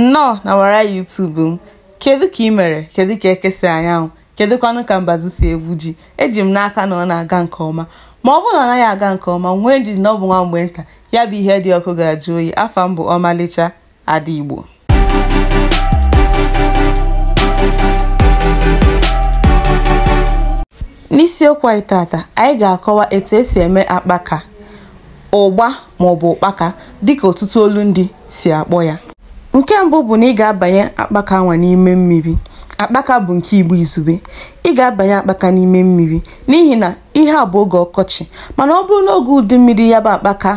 nnọọ n'ọwara YouTube m kedu ka ị mere kedu ka eke si anya anwụ kedụkwanụ ka mbazu si egwu ji eji m n'aka na ọ na-aga nke ọma ma ọ bụrụ na ọ naghị aga nke ọma nwee ndidi na ọ bụ nwa mgbe nta ya bụ ihe dị ọkụ ga-ajụ oyi afa m bụ ọmalịcha ada igbo n'isiokwu anyị tata anyị ga-akọwa etu esi eme akpaka ụgba maọbụ ụkpaka dịka ọtụtụ olundị si akpọ ya nke mbụ bụ na ị ga-abanye akpaka anwa n'ime mmiri akpaka bụ nke igbo izugbe ị ga-abanye akpaka n'ime mmiri n'ihi na ihe a bụ oge ọkọchị mana ọ bụrụ n'oge udu mmiri ya bụ akpaka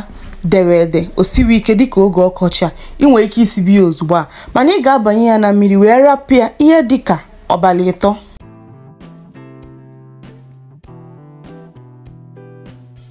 dere ede o sighi ike dịka oge ọkọchị a ị nwere ike isibe ya ozugbo a mana ị ga-abanye ya na mmiri wee rapụ ya ihe dịka abalị ịtọ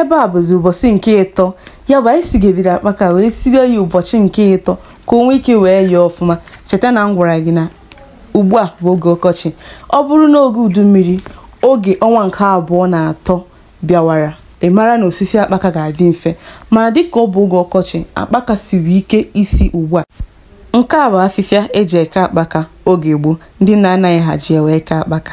ebe a bụzi ụbọchị nke ịtọ ya bụ anyị sigediri akpaka wee sirie ya ụbọchị nke ịtọ ka o nwee ike wee yee ọfụma cheta na m gwara gị na ugbu a bụ oge ọkọchị ọ bụrụ na oge udu mmiri oge ọnwa nke abụọ na atọ bịawara ị mara na osisi akpaka ga-adị mfe mana dịka ọ bụ oge ọkọchị akpaka siri ike isi ugbu a nke a bụ afịfịa eji eke akpaka oge gboo ndị nna anyị ha ji ewe eke akpaka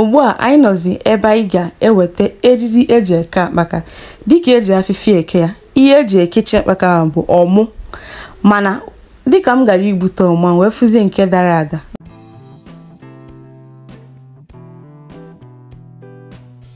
ugbu a anyị nọzi ebe anyị ga-eweta eriri eji eke akpaka dịka eji afịfịa eke ya ihe eji ekechi akpaka ahụ bụ ọmụ mana dịka m gara igbute ọmụ a wee fụzie nke dara ada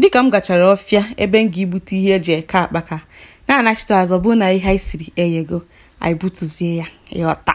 dịka m gachara ọfịa ebe m ga igbute ihe eji eke akpaka na-anachite azụ ọ bụ na ihe anyị siri eyego anyị butuzie ya ịghọta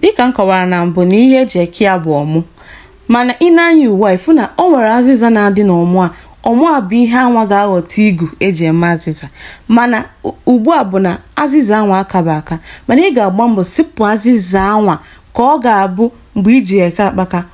dịka m kọwara na mbụ na ihe eji eke ya bụ ọmụ mana i nee anya ugbu a ị fụ na ọ nwere azịza na-adị n'ọmụ a ọmụ a bụ ihe anwa ga-aghọta igu eji eme azịza mana ugbu a bụ na azịza anwa akaba aka mana ị ga-agba mbọ sipụ azịza anwa ka ọ ga-abụ mgbe iji eke akpaka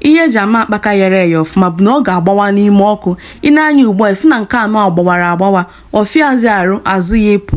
ihe eji ama akpaka yere eye ọfụma bụ na ọ ga-agbawa n'ime ọkụ i nee anya ugbu a ifu na nke anwa gbawara agbawa ọ fịazi arụ azụ ya ịpụ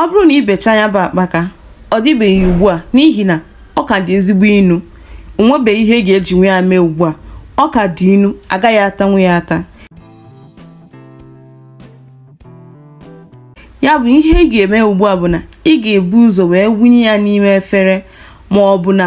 ọ bụrụ na i bechaa ya bụ akpaka ọ dịbeghị ugbu a n'ihi na ọ ka dị ezigbo inu onwebeghị ihe e ga-ejinwu ya mee ugbu a ọ ka dị inu agaghị atanwu ya ata ya bụ ihe ị ga-eme ugbu a bụ na ị ga-ebu ụzọ wee wunye ya n'ime efere ma ọ bụ na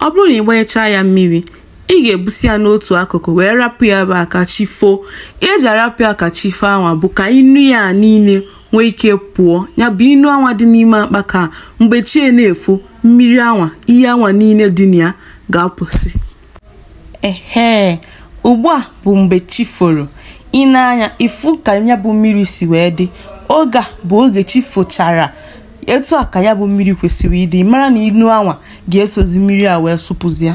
ọ bụrụ na ị gbanyechaa ya mmiri ị ga-ebusi ya n'otu akụkụ wee rapụ ya ebe a ka chi foo ihe eji arapụ ya ka chi foo anwa bụ ka inu ya niile nwee ike pụọ ya bụ inu anwa dị n'ime akpaka mgbe chi na-efo mmiri anwa ihe anwa niile dị na ya ga-apụsị Ehee, ugbu a bụ mgbe chi foro. I nee anya, ị fụ ka ya bụ mmiri si wee dị. Oge a bụ oge chi fochara. Etu a ka ya bụ mmiri kwesịrị ịdị. Ị mara na inu anwa ga-esozi mmiri a wee sụpụzịa.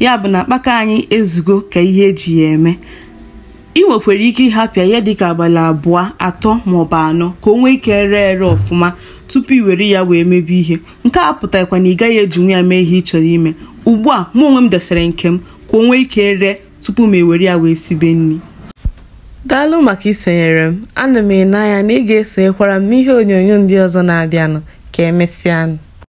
ya bụ na akpaka anyị ezugo ka ihe eji ya eme ị nwekwara ike ịhapụ ya dịka abalị abụọ atọ maọbụ anọ ka o nwee ike ree ere ọfụma tupu i were ya wee mebe ihe nke a pụtarakwa na ị gaghị ejinwu ya mee ihe ị chọrọ ime ugbu a mụ onwe m desere nke m ka o nwee ike ree tupu m ewere ya wee sibe nni daalụ maka isonyere m ana m ene anya na ị ga-esonyekwara m n'ihe onyonyo ndị ọzọ na-abịanụ ka emesịanụ